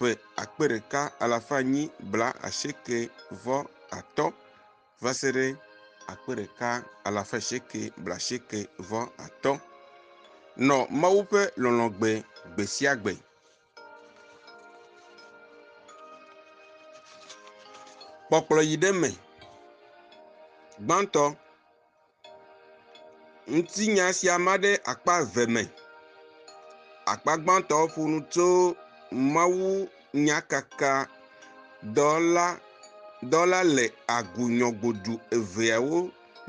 ƒe akpe ɖeka alafa enyi blaasieke vɔ atɔ̃ va se ɖe akpe ɖeka alafa asieke blaasieke vɔ atɔ̃. Nɔ Mawu ƒe lɔlɔ̃ gbe gbe sia gbe. Kpɔkplɔ yi ɖe me. Gbãtɔ. Ŋutinya sia ma ɖe akpa eve me. Akpa gbãtɔ ƒo nu tso mawunyakakadɔla dɔla le agunyɔgodu eveawo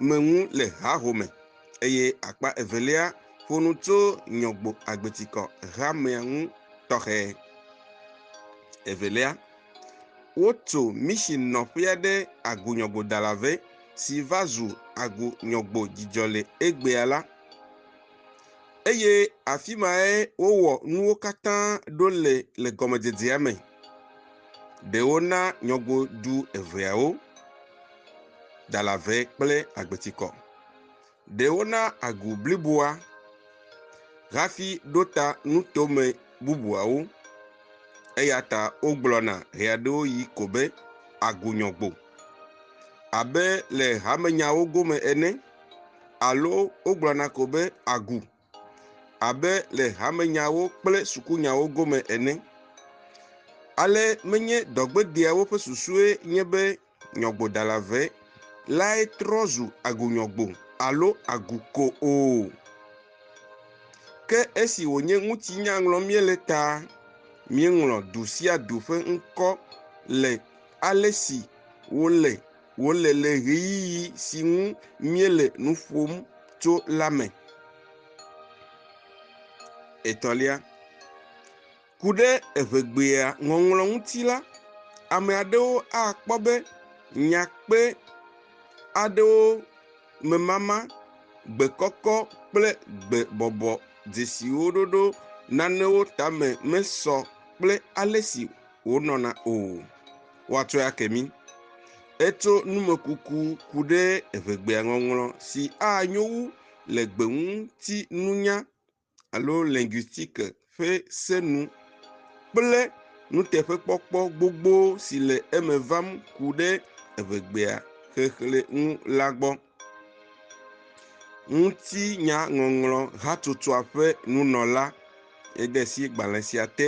me ŋu le hahome eye akpa evelia ƒo nu tso nyɔgbo agbetikɔ hamea ŋu tɔxɛ. Evelia, wotso misi nɔƒea ɖe agunyɔgodala vɛ. si va zu agu nyɔgbo dzidzɔ le egbea la, eye afi mae wowɔ nuwo katã ɖo le le gɔmedzedzea me. Ɖe wona nyɔgbo du eveawo, Dalave kple Agbetikɔ. Ɖe wona agu bliboa hafi ɖo ta nutome bubuawo, eya ta wogblɔna ɣeaɖewoɣi ko be agunyɔgbo, abe le hamenyawo gome ene, alo wogblɔna ko be agu. abe le hamenyawo kple sukunyawo gome ene. Ale menye dɔgbedeawo ƒe susue nye be nyɔgbodala ve lae trɔ zu agunyɔgbo alo agu ko o. Ke esi wònye ŋutinya ŋlɔm míele ta, míeŋlɔ du sia du ƒe ŋkɔ le ale si wole wòle le ɣeyiɣi si ŋu míele nu ƒom tso la me. Etɔ̃lia, ku ɖe eŋegbea ŋɔŋlɔ ŋuti la, ame aɖewo akpɔ be nya kpe aɖewo memama, gbekɔkɔ kple gbebɔbɔ dzesiwo ɖoɖo nanewo tame mesɔ kple ale si wonɔna o. woatsɔe ake mí. Etso numekuku ku ɖe eŋegbea ŋɔŋlɔ si anyo wu le gbeŋutinunya alo linguistique ƒe se nu kple nuteƒekpɔkpɔ gbogbo si le eme vam ku ɖe eŋegbea xexlẽ ŋu la gbɔ. Ŋutinyaŋɔŋlɔ hatsotsɔa ƒe nunɔla ede asi gbalẽ sia te.